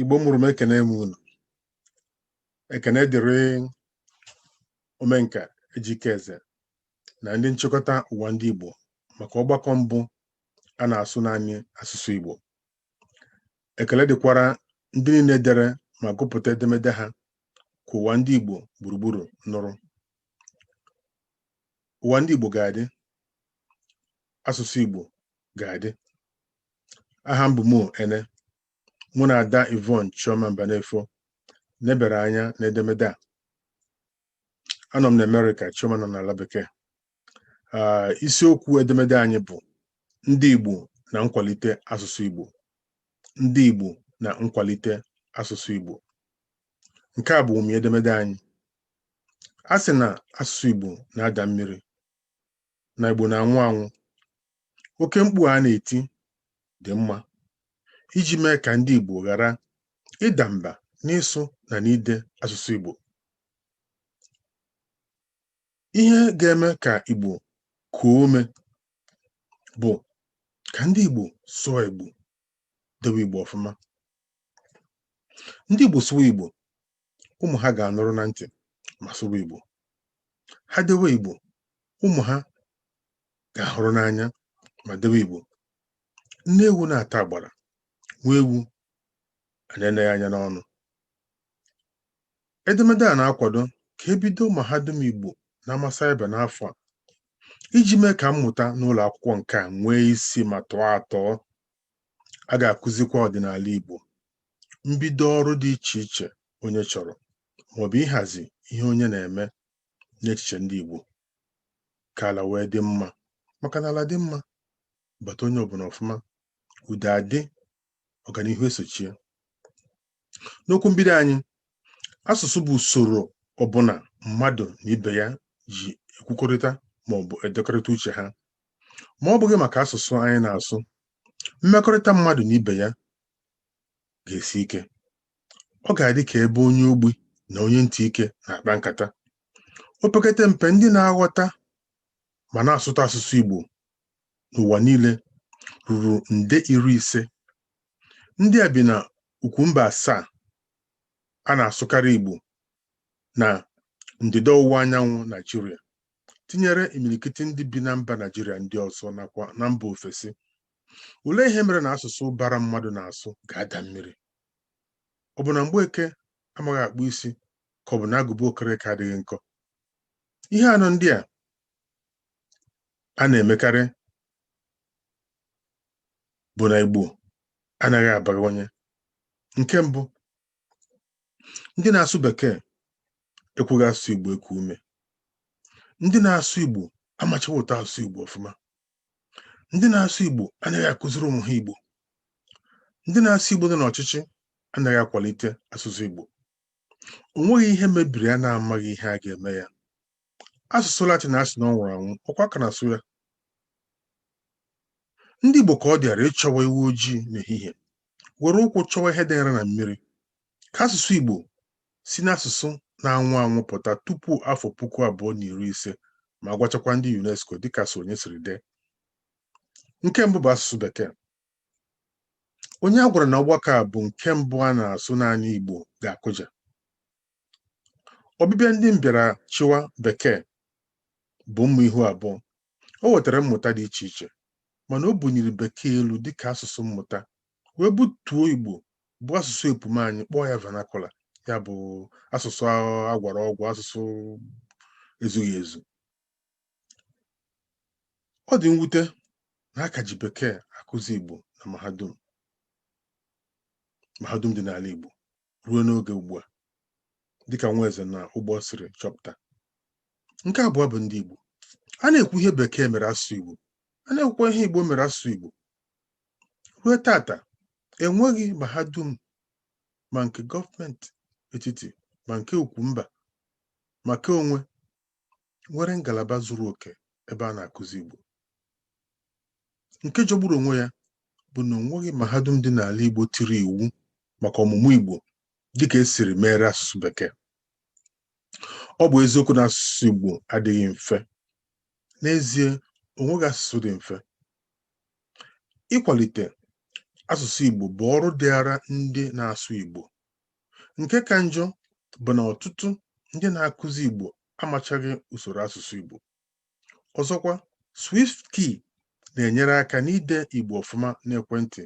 igbo mụrụ m ekene m unu ekene dịrị omenka ejike eze na ndị nchịkọta ụwa ndị igbo maka ọgbakọ mbụ a na-asụ naanị asụsụ igbo ekele dịkwara ndị niile dere ma gụpụta edemede ha ka ụwa ndị igbo gburugburu nụrụ ụwa ndị igbo ga-adị asụsụ igbo ga-adị aha m bụ Mo Ene mụ na ada Yvonne Chioma Mbanefo nebere anya n'edemede a anọ m na Amerịka Chioma nọ n'ala bekee Ah, isiokwu edemede anyị bụ ndị Igbo na nkwalite asụsụ Igbo ndị Igbo na nkwalite asụsụ Igbo nke a bụ ụmị edemede anyị a sị na asụsụ Igbo na-ada mmiri na Igbo na-anwụ anwụ oke mkpu a na-eti dị mma iji mee ka ndị Igbo ghara ịda mba n'ịsụ na n'ide asụsụ Igbo ihe ga-eme ka Igbo kuo ume bụ ka ndị Igbo sụwa Igbo dewe Igbo ọfụma ndị Igbo sụwa Igbo ụmụ ha ga-anụrụ na ntị ma sụwa Igbo ha dewe Igbo ụmụ ha ga-ahụrụ n'anya ma dewe Igbo nne ewu na-ata agbara nwa ewu ana-ene ya anya n'ọnụ edemede a na-akwado ka e bido mahadum Igbo n'ama saịba n'afọ a iji mee ka mmụta n'ụlọ akwụkwọ nke a nwee isi ma tọọ atọọ a ga-akụzikwa ọdịnala Igbo mbido ọrụ dị iche iche onye chọrọ maọbụ ịhazi ihe onye na-eme n'echiche ndị Igbo ka ala wee dị mma maka na ala dị mma bata onye ọbụla ọfụma udo adị ọganihu esochie n'okwu mbido anyị asụsụ bụ usoro ọbụla mmadụ na ibe ya ji ekwukọrịta ma ọ bụ edekọrịta uche ha ma ọ bụghị maka asụsụ anyị na-asụ mmekọrịta mmadụ na ibe ya ga-esi ike ọ ga-adị ka ebe onye ogbi na onye ntị ike na-akpa nkata opekata mpe ndị na-aghọta ma na-asụta asụsụ Igbo n'ụwa niile ruru nde iri ise ndị a bi na ukwu mba asaa a na-asụkarị Igbo na ndịda ọwụwa anyanwụ Naijiria tinyere imirikiti ndị bi na mba Naijiria ndị ọzọ nakwa na mba ofesi olee ihe mere na asụsụ ụbara mmadụ na-asụ ga-ada mmiri ọ bụ na Mgbeke amaghị akpụ isi ka ọ bụ na agụba Okereke adịghị nkọ ihe anọ ndị a a na-emekarị bụ na Igbo anaghị abawanye nke mbụ ndị na-asụ bekee ekweghị asụsụ Igbo eku ume ndị na-asụ Igbo amachaghị ụtọ asụsụ Igbo ọfụma ndị na-asụ Igbo anaghị akụziri ụmụ ha Igbo ndị na-asụ Igbo nọ n'ọchịchị anaghị akwalite asụsụ Igbo o nweghị ihe mebiri a na-amaghị ihe a ga-eme ya asụsụ latin a sị na ọ nwụrụ anwụ ọkwa a ka na-asụ ya ndị igbo ka ọ dịara ịchọwa ewu ojii n'ehihie were ụkwụ chọwa ihe danyere na mmiri ka asụsụ igbo si n'asụsụ na-anwụ anwụ pụta tupu afọ puku abụọ na iri ise ma gwachakwa ndị unesco dịka Asọnye siri dee nke mbụ bụ asụsụ bekee onye a gwara na ọgbakọ a bụ nke mbụ a na-asụ naanị igbo ga-akụja ọbịbịa ndị mbịara chịwa bekee bụ mma ihu abụọ o wetara mmụta dị iche iche mana o bunyere bekee elu dịka asụsụ mmụta wee butuo igbo bụ asụsụ epum anyị kpọọ ya vernacular ya bụ asụsụ agwara ọgwa asụsụ ezughị ezu ọ dị mwute na a ka ji bekee akụzi igbo na mahadum mahadum dị n'ala igbo ruo n'oge ugbu a dịka Nweze na Ugbọ siri chọpụta nke abụọ bụ ndị Igbo a na-ekwu ihe bekee mere asụsụ Igbo a na-ekwukwa ihe Igbo mere asụsụ Igbo ruo taata enweghị mahadum ma nke gọọmenti etiti ma nke ukwu mba ma nke onwe nwere ngalaba zuru oke ebe a na-akụzi Igbo nke jọgburu onwe ya bụ na o nweghị mahadum dị n'ala Igbo tiri iwu maka ọmụmụ Igbo dịka e siri meere asụsụ bekee ọ bụ eziokwu na asụsụ Igbo adịghị mfe n'ezie o nweghị asụsụ dị mfe ịkwalite asụsụ Igbo bụ ọrụ dịara ndị na-asụ Igbo nke ka njọ bụ na ọtụtụ ndị na-akụzi Igbo amachaghị usoro asụsụ Igbo ọzọkwa SwiftKey na-enyere aka n'ide Igbo ọfụma n'ekwentị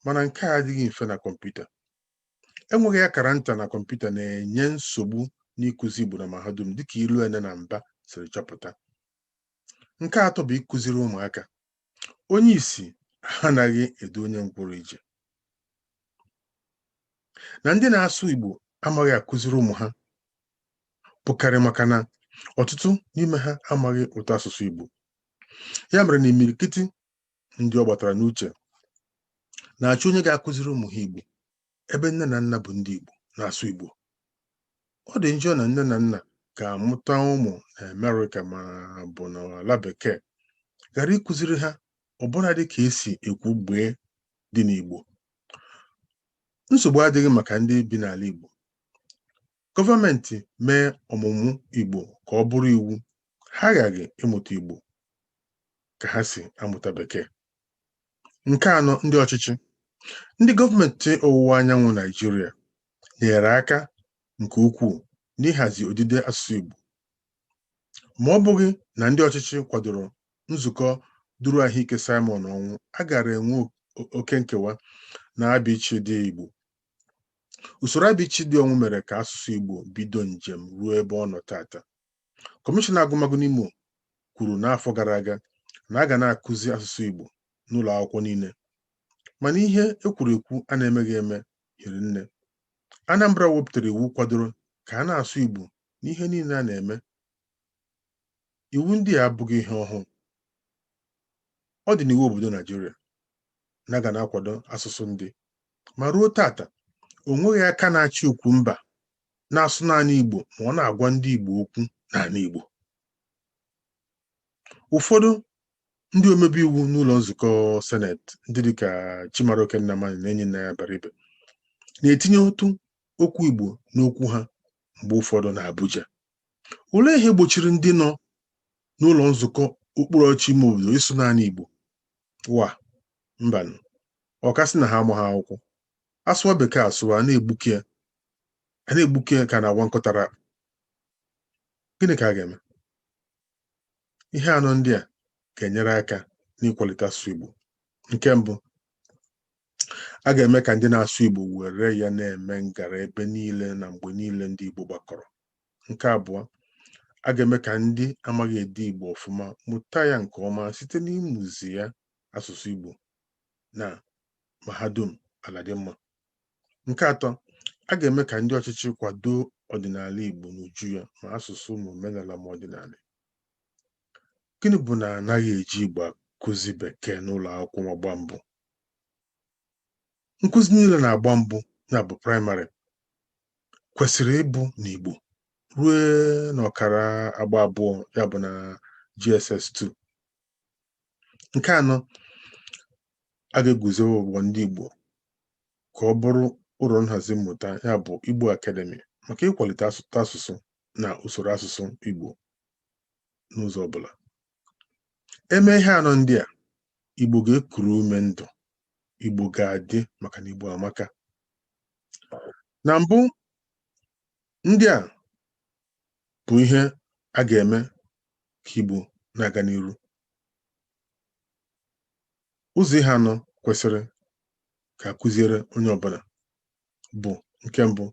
mana nke a adịghị mfe na kọmputa enweghị akara nta na kọmputa na-enye nsogbu n'ịkụzi Igbo na mahadum dịka Iloene na Mbah siri chọpụta nke atọ bụ ịkụziri ụmụaka onye isi anaghị edu onye ngwụrọ ije na ndị na-asụ Igbo amaghị akụziri ụmụ ha bụkarị maka na ọtụtụ n'ime ha amaghị ụtọ asụsụ Igbo ya mere na imirikiti ndị ọ gbatara n'uche na-achọ onye ga-akụziri ụmụ ha Igbo ebe nne na nna bụ ndị Igbo na-asụ Igbo ọ dị njọ na nne na nna ga-amụta ụmụ na Amerịka ma bụ n'ala bekee ghara ịkụziri ha ọbụladị ka esi ekwu gbee dị n'Igbo nsogbu adịghị maka ndị bi n'ala Igbo gọọmenti mee ọmụmụ Igbo ka ọ bụrụ iwu ha aghaghị ịmụta Igbo ka ha si amụta bekee Nke anọ, ndị ọchịchị. Ndị gọọmenti ọwụwa anyanwụ Naijiria nyere aka nke ukwuu n'ịhazi odide asụsụ Igbo. Ma ọ bụghị na ndị ọchịchị kwadoro nzukọ duru ahụike Simon Ọnwụ, a gaara enwe oke nkewa na abịichịdị Igbo. Usoro abịichịdị Ọnwụ mere ka asụsụ Igbo bido njem ruo ebe ọ nọ taata. Kọmishọna agụmagụ n'Imo kwuru n'afọ gara aga na a ga na-akụzi asụsụ Igbo n'ụlọ akwụkwọ niile mana ihe ekwuru ekwu a na-emeghị eme hiri nne Anambra wepụtara iwu kwadoro ka a na-asụ Igbo n'ihe niile a na-eme iwu ndị a abụghị ihe ọhụụ ọ dị n'iwu obodo Naijiria na a ga na-akwado asụsụ ndị ma ruo taata o nweghị aka na-achị ukwu mba na-asụ naanị Igbo ma ọ na-agwa ndị Igbo okwu n'ala Igbo ụfọdụ ndị omebe iwu n'ụlọ nzukọ seneti ndị dịka Chimaroke Nnamani na Enyinnaya Abaribe na-etinye otu okwu Igbo n'okwu ha mgbe ụfọdụ na Abuja olee ihe gbochiri ndị nọ n'ụlọ nzukọ okpuru ọchị ime obodo ịsụ naanị Igbo wa mbanụ ọkasị na ha amaghị akwụkwọ asụwa bekee asụwa na-egbuke ya a na-egbuke ya ka a na-awa nkụ ụtara akpụ gịnị ka a ga-eme ihe anọ ndị a ga-enyere aka n'ịkwalite asụsụ Igbo nke mbụ a ga-eme ka ndị na-asụ Igbo were ya na-eme ngara ebe niile na mgbe niile ndị Igbo gbakọrọ nke abụọ a ga-eme ka ndị amaghị ede Igbo ọfụma mụta ya nke ọma site n'ịmụzi ya asụsụ Igbo na mahadum ala dị mma nke atọ a ga-eme ka ndị ọchịchị kwado ọdịnala Igbo n'uju ya ma asụsụ ma omenala ma ọdịnala gịnị bụ na anaghị eji Igbo akụzi bekee n'ụlọ akwụkwọ agba mbụ nkụzi niile n'agba mbụ ya bụ praịmarị kwesịrị ịbụ n'Igbo ruo n'ọkara agba abụọ ya bụ na JSS 2 nke anọ a ga-eguzowe ụgbọ ndị Igbo ka ọ bụrụ ụlọ nhazi mmụta ya bụ Igbo Academy maka ịkwalite asụ asụsụ na usoro asụsụ Igbo n'ụzọ ọbụla e mee ihe anọ ndị a Igbo ga-ekuru ume ndụ Igbo ga-adị maka na Igbo amaka na mbụ ndị a bụ ihe a ga-eme ka Igbo na-aga n'iru ụzọ ihe anọ kwesịrị ka a kụziere onye ọbụla bụ nke mbụ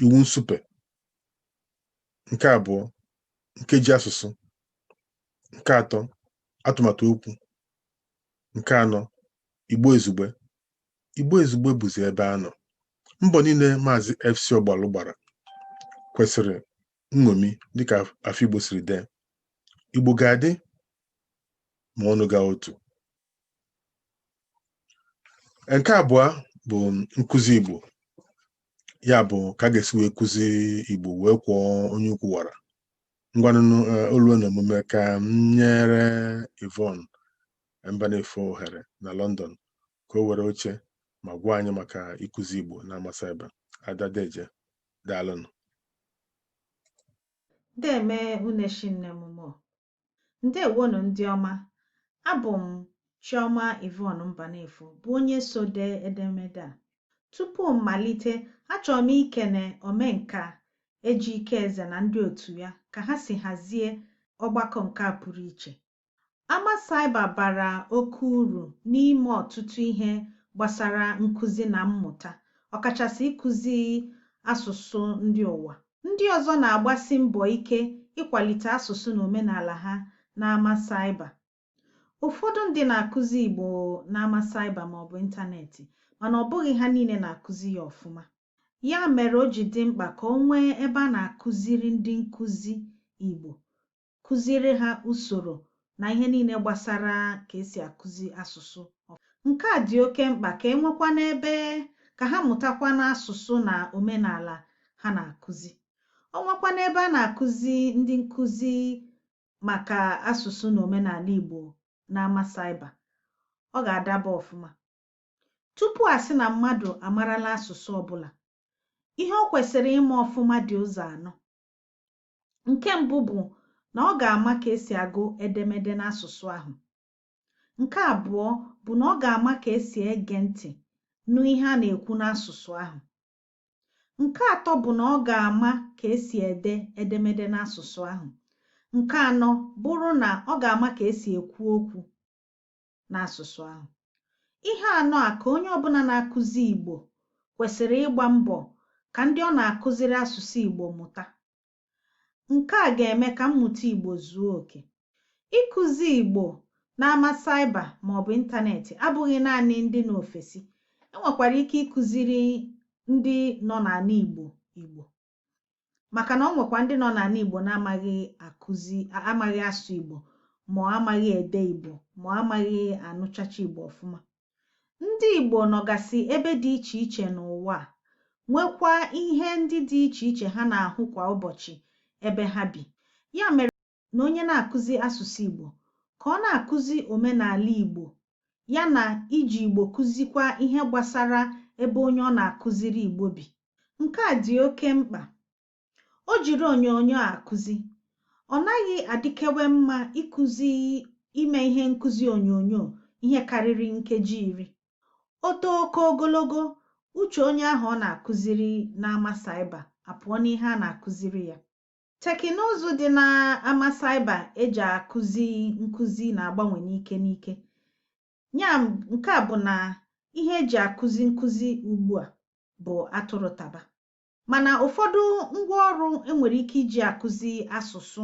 iwu nsupe nke abụọ nkeji asụsụ nke atọ atụmatụ okwu nke anọ Igbo Izugbe Igbo Izugbe bụzi ebe a nọ. Mbọ niile Maazị FC Ọgbalụ gbara kwesịrị nṅomi dịka Afigbo siri dee. Igbo ga-adị ma ọnụ gaa otu. Nke abụọ bụ nkụzi Igbo. Ya bụ ka a ga-esi wee kụzi Igbo wee kwọọ onye ukwu wara. Ngwanụ o lue n'omume ka m nyere Yvonne Mbanefo ohere na London ka o were oche ma gwa anyị maka ịkụzi Igbo n'ama saịba Ada Deje daalụnụ Deme Uneshi nne m mo ndewonụ ndị ọma abụ m Chioma Yvonne Mbanefo bụ onye so dee edemede a tupu m malite achọrọ m ikene omenka Ejike Eze na ndị otu ya ka ha si hazie ọgbakọ nke a pụrụ iche Ama Saịba bara oke uru n'ime ọtụtụ ihe gbasara nkụzi na mmụta, ọkachasị ịkụzi asụsụ ndị ụwa. Ndị ọzọ na-agbasi mbọ ike ịkwalite asụsụ na omenala ha n'ama Saịba. Ụfọdụ ndị na-akụzi Igbo n'ama Saịba maọbụ ịntanetị, mana ọ bụghị ha niile na-akụzi ya ọfụma. Ya mere o ji dị mkpa ka o nwee ebe a na-akụziri ndị nkụzi Igbo kụziere ha usoro na ihe niile gbasara ka e si akụzi asụsụ. Nke a dị oke mkpa ka e nwekwanụ ebe ka ha mụtakwanụ asụsụ na omenaala ha na-akụzi. O nwekwanụ ebe a na-akụzi ndị nkụzi maka asụsụ na omenaala Igbo n'ama saịba, ọ ga-adaba ọfụma. Tupu a sị na mmadụ amarala asụsụ ọbụla, ihe o kwesịrị ịma ọfụma dị ụzọ anọ. nke mbụ bụ na ọ ga-ama ka esi agụ edemede n'asụsụ ahụ nke abụọ bụ na ọ ga-ama ka esi ege ntị nụ ihe a na-ekwu n'asụsụ ahụ nke atọ bụ na ọ ga-ama ka esi ede edemede n'asụsụ ahụ nke anọ bụrụ na ọ ga-ama ka esi ekwu okwu n'asụsụ ahụ. Ihe anọ a ka onye ọbụla na-akụzi Igbo kwesịrị ịgba mbọ ka ndị ọ na-akụziri asụsụ Igbo mụta. Nke a ga-eme ka mmụta Igbo zuo oke. Ịkụzi Igbo n'ama cyber maọbụ ịntanetị abụghị naanị ndị nọ ofesi, e nwekwara ike ịkụziri ndị nọ n'ala Igbo Igbo. maka na ọ nwekwa ndị nọ n'ala Igbo na-amaghị akụzi amaghị asụ Igbo ma amaghị ede Igbo ma amaghị anụchacha Igbo ọfụma ndị Igbo nọgasị ebe dị iche iche n'ụwa a nwekwa ihe ndị dị iche iche ha na-ahụ kwa ụbọchị ebe ha bi ya mere na onye na-akụzi asụsụ Igbo ka ọ na-akụzi omenaala Igbo ya na iji Igbo kụzikwa ihe gbasara ebe onye ọ na-akụziri Igbo bi. Nke a dị oke mkpa. O jiri onyonyo akụzi. Ọ naghị adịkewe mma ịkụzi ime ihe nkụzi onyonyo ihe karịrị nkeji iri. O too oke ogologo, uche onye ahụ ọ na-akụziri n'ama cyber apụọ n'ihe a na-akụziri ya. Tekịnụzụ dị n'ama cyber e ji akụzi nkụzi na-agbanwe n'ike n'ike. Ya nke a bụ na ihe e ji akụzi nkụzi ugbu a bụ atụrụ taba. Mana ụfọdụ ngwaọrụ e nwere ike iji akụzi asụsụ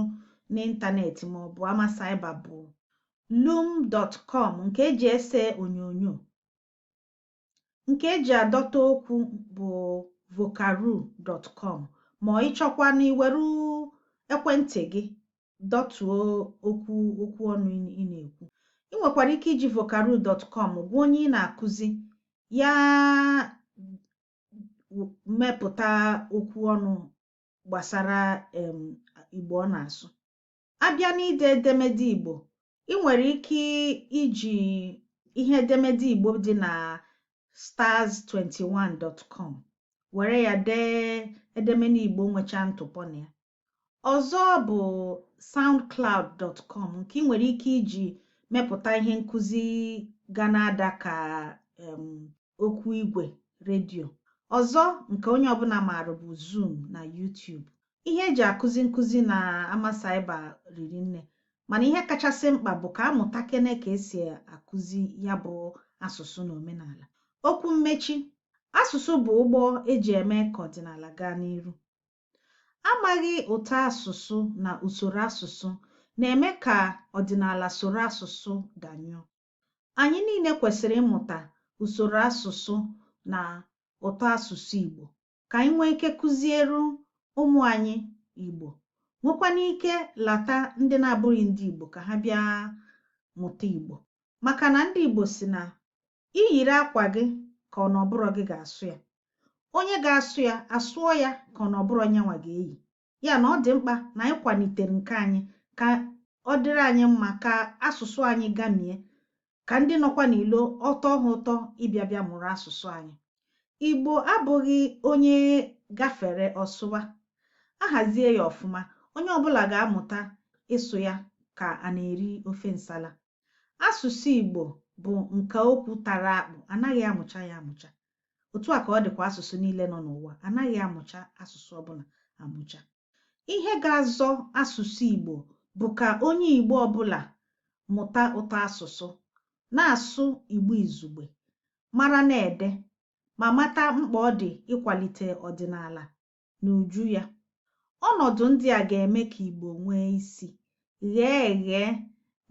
n'ịntanetị maọbụ ama cyber bụ loom.com nke e ji ese onyonyo, nke eji adọta okwu bụ vocaroo.com ma ị chọkwa na iweru ekwentị gị dọtuo okwu okwu ọnụ ị na-ekwu ị nwekwara ike iji vocaroo.com gwa onye ị na-akụzi ya mepụta okwu ọnụ gbasara Igbo ọ na-asụ a bịa n'ide edemede Igbo ị nwere ike iji ihe edemede Igbo dị na stars21.com were ya dee edemede Igbo nwecha ntụpọ na ya ọzọ bụ soundcloud.com nke ị nwere ike iji mepụta ihe nkụzi ga na-ada ka okwu igwe redio. Ọzọ nke onye ọbụla maara bụ Zoom na YouTube. Ihe e ji akụzi nkụzi na ama saiba riri nne mana ihe kachasị mkpa bụ ka a mụta kene ka e si akụzi ya bụ asụsụ na omenala. Okwu mmechi, asụsụ bụ ụgbọ e ji eme ka ọdịnala gaa n'iru. Amaghị ụtọ asụsụ na usoro asụsụ na-eme ka ọdịnala soro asụsụ danyụọ. Anyị niile kwesịrị ịmụta usoro asụsụ na ụtọ asụsụ Igbo ka anyị nwee ike kụziere ụmụ anyị Igbo, nwekwana ike lata ndị na-abụghị ndị Igbo ka ha bịa mụta Igbo maka na ndị Igbo sị na i yiri akwa gị ka ọ na ọ bụrọ gị ga-asụ ya. Onye ga-asụ ya, asụọ ya ka ọ na ọ bụrọ nyanwa ga-eyi. ya na ọ dị mkpa na anyị kwalitere nke anyị ka ọ dịrị anyị mma ka asụsụ anyị gamie ka ndị nọkwa n'ilo ọ tọọ ha ụtọ ịbịa bịa mụrụ asụsụ anyị igbo abụghị onye gafere ọ sụwa a hazie ya ọfụma onye ọbụla ga-amụta ịsụ ya ka a na-eri ofe nsala Asụsụ Igbo bụ nka okwu tara akpụ, a naghị amụcha ya amụcha. Otu a ka ọ dịkwa asụsụ niile nọ n'ụwa, a naghị amụcha asụsụ ọbụla amụcha. Ihe ga-azọ asụsụ Igbo bụ ka onye Igbo ọbụla mụta ụtọ asụsụ, na-asụ Igbo izugbe, mara na-ede, ma mata mkpa ọ dị ịkwalite ọdịnala n'uju ya. Ọnọdụ ndị a ga-eme ka Igbo nwee isi, ghee eghe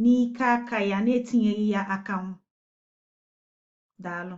n'ike aka ya na-etinyeghị ya akanwụ. Daalụ.